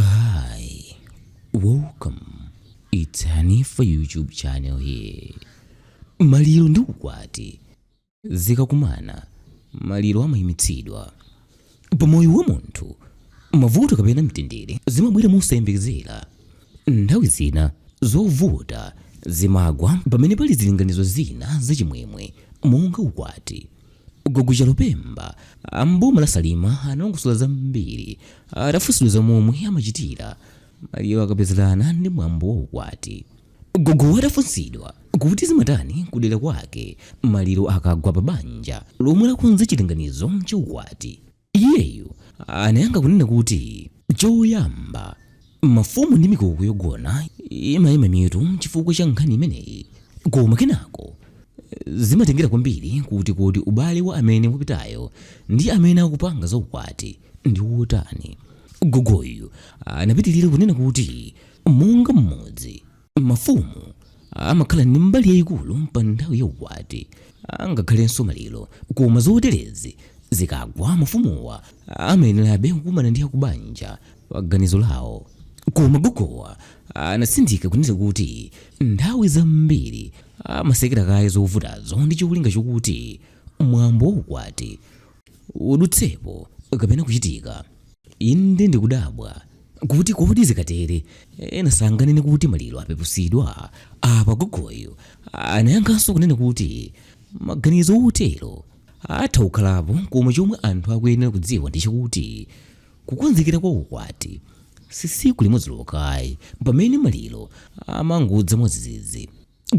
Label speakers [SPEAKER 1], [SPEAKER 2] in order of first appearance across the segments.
[SPEAKER 1] Hi, welcome. It's Hanifa YouTube channel here. Maliro ndi ukwati zikakumana, maliro amayimitsidwa. Pa moyo wa munthu, mavuto kapena mtendere zimabwera mosayembekezera. Nthawi zina zovuta zimagwa pamene pali zilinganizo zina zachimwemwe monga ukwati. Gogo Chalupemba a m'boma la Salima analongosola zambiri atafunsidwa za momwe amachitira maliro akapezerana ndi mwambo wa ukwati. Gogowa atafunsidwa kuti zimatani kudera kwake maliro akagwa pa banja lomwe lakonza chilinganizo cha ukwati, Iyeyu anayankha kunena kuti, Choyamba, mafumu ndi mikoko yogona imaima mitu chifukwa cha nkhani imeneyi. Koma kenako, zimatengera kwambiri kuti kodi ubale wa amene wapitayo ndi amene akupanga za ukwati ndi wotani. Gogoyu anapitirira kunena kuti, Monga mmodzi. mafumu amakhala ndi mbali yayikulu pa nthawi ya ukwati angakhalenso maliro koma zoterezi zikagwa mafumuwa amayenerabe kukumana ndi akubanja pa ganizo lawo koma gogowa anatsindika kunena kuti nthawi zambiri amatsekera kaye zovutazo ndi cholinga chokuti mwambo wa ukwati udutsepo kapena kuchitika. Inde ndikudabwa kuti kodi zikatere ena sanganene kuti maliro apeputsidwa. Apa gogoyu anayankhanso kunena kuti maganizo otero atha kukhalapo koma chomwe anthu akuyenera kudziwa ndi chakuti kukonzekera kwa ukwati si tsiku limodzi lokha ayi pamene maliro amangodza mwadzidzidzi.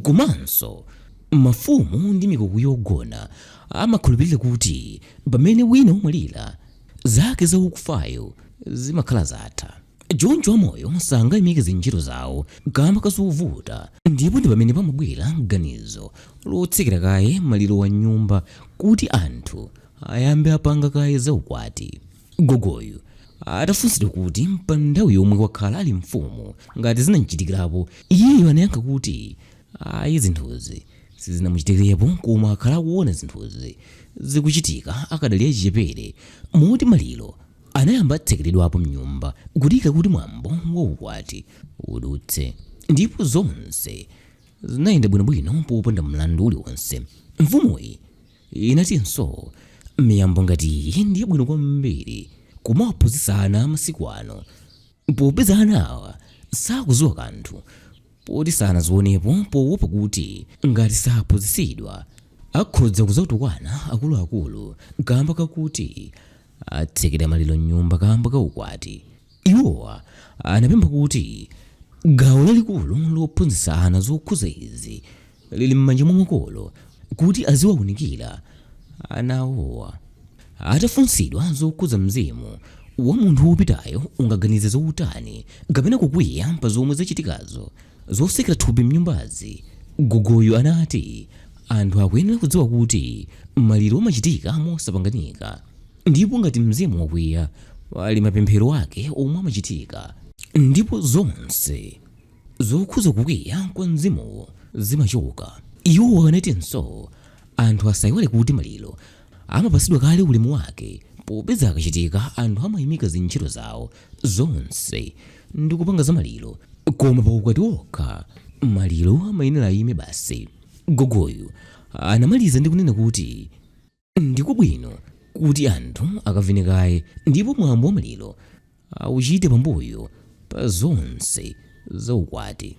[SPEAKER 1] Komanso, mafumu ndi mikoko yogona amakhulupirira kuti pamene wina wamwalira, zake za wakufayo zimakhala zatha. Choncho amoyo sangaimike zintchito zawo kaamba ka zovuta, ndipo ndi pamene pamabwera ganizo lotsekera kaye malirowa m'nyumba kuti anthu ayambe apanga kaye zaukwati. Gogoyu atafunsidwa kuti pa nthawi yomwe wakhala ali mfumu ngati zinam'chitikirapo, iyeyu anayankha kuti ayi zinthuzi sizinamuchitikirepo koma akhala akuona zinthuzi zikuchitika akadali achichepere moti maliro anayamba atsekeredwapo m'nyumba kudikira kuti mwambo wa ukwati udutse ndipo zonse zinayenda bwinobwino popanda mlandu uliwonse. Mfumuyi. Inatinso, Miyambo ngati iyi ndi yabwino kwambiri kumawaphunzitsa ana a masiku ano popeza anawa sakudziwa kanthu poti sanazionepo poopa kuti ngati saphunzitsidwa akhodza kudzatukwana akuluakulu kaamba kakuti atsekera maliro m'nyumba kaamba ka ukwati. Iwo anapempha kuti gawo lalikulu lophunzitsa ana zokhudza izi lili m'manja mwa makolo kuti aziwaunikira ana awowa. Atafunsidwa zokhudza mzimu wa munthu wopitayo ungaganize zotani kapena kukwiya pa zomwe zachitikazo zotsekera thupi mnyumbazi, gogoyu anati anthu akuyenera kudziwa kuti maliro amachitika mosapanganika. Ndipo ngati mzimu wakwiya, pali mapemphero ake omwe amachitika, ndipo zonse zokhuza kukwiya kwa mzimuwo zimachoka. Iwo anatinso, Anthu asaiwale kuti maliro amapatsidwa kale ulemu wake, popeza akachitika anthu amaimika zintchito zawo zonse ndi kupanga za maliro, koma pa ukwati wokha maliro amayenera aime basi. Gogoyu anamaliza ndi kunena kuti. ndi kwabwino kuti anthu akavine kaye ndipo mwambo wa maliro auchite pambuyo pa zonse za ukwati